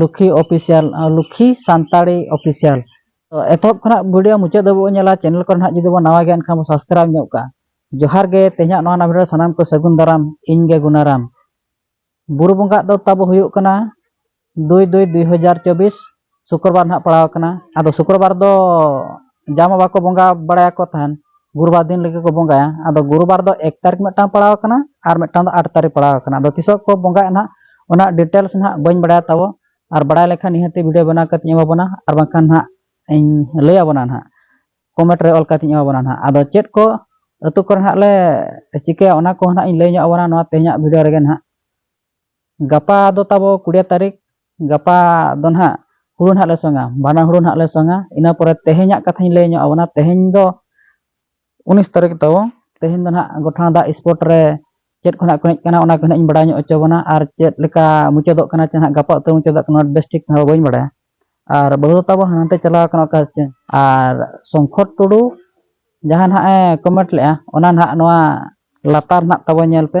ᱞᱩᱠᱷᱤ official ᱞᱩᱠᱷᱤ Santali official ᱛᱚ ᱮᱛᱚᱦᱚᱵ ᱠᱷᱚᱱᱟᱜ ᱵᱷᱤᱰᱤᱭᱳ ᱢᱩᱪᱟᱹᱫ ᱫᱷᱟᱹᱵᱤᱡ ᱵᱚᱱ ᱧᱮᱞᱟ ᱪᱮᱱᱮᱞ ᱠᱚᱨᱮ ᱱᱟᱦᱟᱜ ᱡᱩᱫᱤ ᱵᱚᱱ ᱱᱟᱣᱟ ᱜᱮᱭᱟ ᱮᱱᱠᱷᱟᱱ ᱵᱚᱱ ᱥᱟᱵᱥᱠᱨᱟᱭᱤᱵ ᱧᱚᱜ ᱠᱟᱜᱼᱟ ᱡᱚᱦᱟᱨ ᱜᱮ ᱛᱮᱦᱮᱧᱟᱜ ᱱᱚᱣᱟ ᱱᱟᱣᱟ ᱵᱷᱤᱰᱤᱭᱳ ᱥᱟᱱᱟᱢ ᱠᱚ ᱥᱟᱹᱜᱩᱱ ᱫᱟᱨᱟᱢ ᱤᱧ ᱜᱮ ᱜᱩᱱᱟᱨᱟᱢ ᱵᱩᱨᱩ ᱵᱚᱸᱜᱟ ᱫᱚ ᱛᱟᱵᱚ ᱦᱩᱭᱩᱜ ᱠᱟᱱᱟ ᱫᱩᱭ ᱫᱩᱭ ᱫᱩᱭ ᱦᱟᱡᱟᱨ ᱪᱚᱵᱵᱤᱥ ᱥᱩᱠᱨᱚᱵᱟᱨ ᱱᱟᱦᱟᱜ ᱯᱟᱲᱟᱣ ᱟᱠᱟᱱᱟ ᱟᱫᱚ ᱥᱩᱠᱨᱚᱵᱟᱨ ᱫᱚ ᱡᱟᱢᱟ ᱵᱟᱠᱚ ᱵᱚᱸᱜᱟ ᱵᱟᱲᱟᱭᱟᱠᱚ ᱛᱟᱦᱮᱱ ᱜᱩᱨᱩᱵᱟᱨ ᱫᱤᱱ ᱞᱟᱹᱜᱤᱫ ᱠᱚ ᱵᱚᱸᱜᱟᱭᱟ ᱟᱫᱚ ᱜᱩᱨᱩᱵᱟᱨ ᱫᱚ ᱮᱠ ᱛᱟᱹᱨᱤᱠᱷ ᱢᱤᱫᱴᱟᱝ ᱯᱟᱲᱟᱣ ᱟᱠᱟᱱᱟ ᱟᱨ ᱢᱤᱫᱴᱟᱝ ᱫᱚ ᱟᱴ ᱛᱟᱹᱨᱤᱠᱷ ᱯᱟᱲᱟᱣ ᱟᱠᱟᱱᱟ ᱟᱫᱚ ᱛᱤᱥᱚᱜ ᱠᱚ ᱵᱚᱸᱜᱟᱭᱟ ᱱᱟᱦᱟᱜ ᱚᱱᱟ ᱰᱤᱴᱮᱞᱥ ᱱᱟᱦᱟᱜ ᱵᱟᱹᱧ ᱵᱟᱲᱟᱭᱟ ᱛᱟᱵᱚ ᱟᱨ ᱵᱟᱲᱟᱭ ᱞᱮᱠᱷᱟᱱ ᱱᱤᱦᱟᱹᱛᱤ ᱵᱷᱤᱰᱤᱭᱳ ᱵᱮᱱᱟᱣ ᱠᱟᱛᱮᱧ ᱮᱢᱟᱵᱚᱱᱟ ᱟᱨ ᱵᱟᱝᱠᱷᱟᱱ ᱱᱟᱦᱟᱜ ᱤᱧ ᱞᱟᱹᱭ ᱟᱵᱚᱱᱟ ᱱᱟᱦᱟᱜ ᱠᱚᱢᱮᱱᱴ ᱨᱮ ᱚᱞ ᱠᱟᱛᱮᱧ ᱮᱢᱟᱵᱚᱱᱟ ᱱᱟᱦᱟᱜ ᱟᱫᱚ ᱪᱮᱫ ᱠᱚ ᱟᱹᱛᱩ ᱠᱚᱨᱮ ᱱᱟᱦᱟᱜ ᱞᱮ ᱪᱤᱠᱟᱹᱭᱟ ᱚᱱᱟ ᱠᱚ ᱱᱟᱦᱟᱜ ᱤᱧ ᱞᱟᱹᱭ ᱧᱚᱜ ᱟᱵᱚᱱᱟ ᱱᱚᱣᱟ ᱛᱮᱦᱮᱧᱟᱜ ᱵᱷᱤᱰᱤᱭᱳ ᱨᱮᱜᱮ ᱱᱟᱦᱟᱜ ᱜᱟᱯᱟ ᱫᱚ ᱛᱟᱵᱚ ᱠᱩᱲᱤᱭᱟᱹ ᱛᱟᱹᱨᱤᱠᱷ ᱜᱟᱯᱟ ᱫᱚ ᱱᱟᱦᱟᱜ ᱦᱩᱲᱩ ᱱᱟᱦᱟᱜ ᱞᱮ ᱥᱚᱝᱟ ᱵᱟᱱᱟ ᱦᱩᱲᱩ ᱱᱟᱦᱟᱜ ᱞᱮ ᱥᱚᱝᱟ ᱤᱱᱟᱹ ᱯᱚᱨᱮ ᱛᱮᱦᱮᱧᱟᱜ ᱠᱟᱛᱷᱟᱧ ᱞᱟᱹᱭ ᱧᱚᱜ ᱟᱵᱚᱱᱟ ᱛᱮᱦᱮᱧ ᱫᱚ ᱩᱱᱤᱥ ᱛᱟᱹᱨᱤᱠᱷ ᱛᱟᱵᱚ ᱛᱮᱦᱮᱧ ᱫᱚ ᱱᱟᱦᱟᱜ ᱜᱚᱴᱷᱟᱬᱟ ᱫᱟᱜ ᱥᱯᱚᱴ ᱨᱮ ᱪᱮᱫ ᱠᱚ ᱱᱟᱦᱟᱜ ᱠᱚ ᱮᱱᱮᱡ ᱠᱟᱱᱟ ᱚᱱᱟ ᱠᱚ ᱱᱟᱦᱟᱜ ᱤᱧ ᱵᱟᱲᱟᱭ ᱧᱚᱜ ᱦᱚᱪᱚ ᱵᱚᱱᱟ ᱟᱨ ᱪᱮᱫ ᱞᱮᱠᱟ ᱢᱩᱪᱟᱹᱫᱚᱜ ᱠᱟᱱᱟ ᱪᱮ ᱱᱟᱦᱟᱜ ᱜᱟᱯᱟ ᱩᱛᱟᱹᱨ ᱢᱩᱪᱟᱹᱫᱚᱜ ᱠᱟᱱᱟ ᱵᱮᱥ ᱴᱷᱤᱠ ᱦᱚᱸ ᱵᱟᱹᱧ ᱵᱟᱲᱟᱭᱟ ᱟᱨ ᱵᱟᱹᱦᱩ ᱫᱚ ᱛᱟᱵᱚ ᱦᱟᱱᱛᱮ ᱪᱟᱞᱟᱣ ᱠᱟᱱᱟ ᱚᱠᱟ ᱪᱮ ᱟᱨ ᱥᱚᱝᱠᱷᱚᱨ ᱴᱩᱰᱩ ᱡᱟᱦᱟᱸ ᱱᱟᱦᱟᱜ ᱮ ᱠᱚᱢᱮᱱᱴ ᱞᱮᱜᱼᱟ ᱚᱱᱟ ᱱᱟᱦᱟᱜ ᱱᱚᱣᱟ ᱞᱟᱛᱟᱨ ᱱᱟᱦᱟᱜ ᱛᱟᱵᱚ ᱧᱮᱞ ᱯᱮ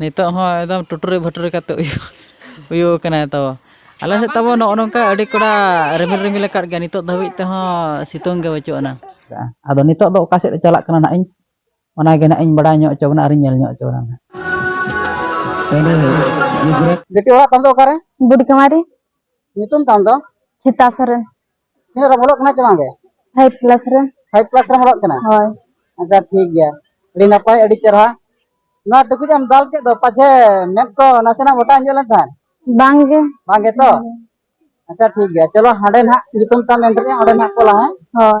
ᱱᱤᱛᱚᱜ ᱦᱚᱸ ᱮᱠᱫᱚᱢ ᱴᱩᱴᱩᱨᱤ ᱵᱷᱟᱴᱩᱨᱤ ᱠᱟᱛᱮ ᱩᱭᱩ ᱠᱟᱱᱟᱭ ᱛᱚ ᱟᱞᱮ ᱥᱮᱫ ᱛᱟᱵᱚ ᱱᱚᱜᱼᱚ ᱱᱚᱝᱠᱟ ᱟᱹᱰᱤ ᱠᱚᱲᱟ ᱨᱤᱢᱤᱞ ᱨᱤᱢᱤᱞ ᱟᱠᱟᱫ ᱜᱮᱭᱟ ᱱᱤᱛᱚᱜ ᱫᱷᱟᱹᱵᱤᱡ ᱛᱮᱦᱚᱸ ᱥᱤᱛᱩᱝ ᱜᱮ ᱵᱟᱹᱪᱩᱜ ᱟᱱᱟ ᱟᱫᱚ ᱱᱤᱛᱚᱜ ᱫᱚ ᱚᱠᱟ ᱥᱮᱫ ᱪᱟᱞᱟᱜ ᱠᱟᱱᱟ ᱱᱟᱜ ᱤᱧ ᱚᱱᱟ ᱜᱮ ᱱᱟᱜ ᱤᱧ ᱵᱟᱲᱟᱭ ᱧᱚᱜ ᱦᱚᱪᱚ ᱵᱚᱱᱟ ᱟᱨᱤᱧ ᱧᱮᱞ ᱧᱚᱜ ᱦᱚᱪᱚ ᱵᱚᱱᱟ ᱵᱮᱴᱤ ᱚᱲᱟᱜ ᱛᱟᱢ ᱫᱚ ᱚᱠᱟᱨᱮ ᱵᱩᱰᱤ ᱠᱟᱢᱟᱨᱤ ᱧᱩᱛᱩᱢ ᱛᱟᱢ ᱫᱚ ᱪᱷᱤᱛᱟ ᱥᱚᱨᱮᱱ ᱛᱤᱱᱟᱹᱜ ᱨᱮ ᱵᱚᱞᱚᱜ ᱠᱟᱱᱟ ᱪᱮ ᱵᱟᱝᱜᱮ ᱯᱷᱟᱭᱤᱵ ᱠᱞᱟᱥ ᱨᱮ ᱯᱷᱟᱭᱤᱵ ᱠᱞᱟᱥ ᱨᱮ ᱵᱚᱞᱚᱜ ᱠᱟᱱᱟ ᱦᱳᱭ ᱟᱪᱪᱷᱟ ᱴᱷᱤᱠ ᱜᱮᱭᱟ ᱟᱹᱰᱤ ᱱᱟᱯᱟᱭ ᱟᱹᱰᱤ ᱪᱮᱨᱦᱟ ᱱᱚᱣᱟ ᱴᱩᱠᱩᱡ ᱮᱢ ᱫᱟᱞ ᱠᱮᱫ ᱫᱚ ᱯᱟᱪᱷᱮ ᱢᱮᱫ ᱠᱚ ᱱᱟᱥᱮᱱᱟᱜ ᱢᱚᱴᱟ ᱧᱚᱜ ᱞᱮᱱ ᱛᱟᱦᱮᱸᱫ ᱵᱟᱝᱜᱮ ᱵᱟᱝᱜᱮ ᱛᱚ ᱟᱪᱪᱷᱟ ᱴᱷᱤᱠ ᱜᱮᱭᱟ ᱪᱚᱞᱚ ᱦᱟᱸᱰᱮ ᱱᱟᱜ ᱧᱩᱛᱩᱢ ᱛᱟᱢ ᱮᱱᱛᱮ ᱚᱸᱰᱮ ᱱᱟᱜ ᱠᱚᱞᱟ ᱦᱮᱸ ᱦᱳᱭ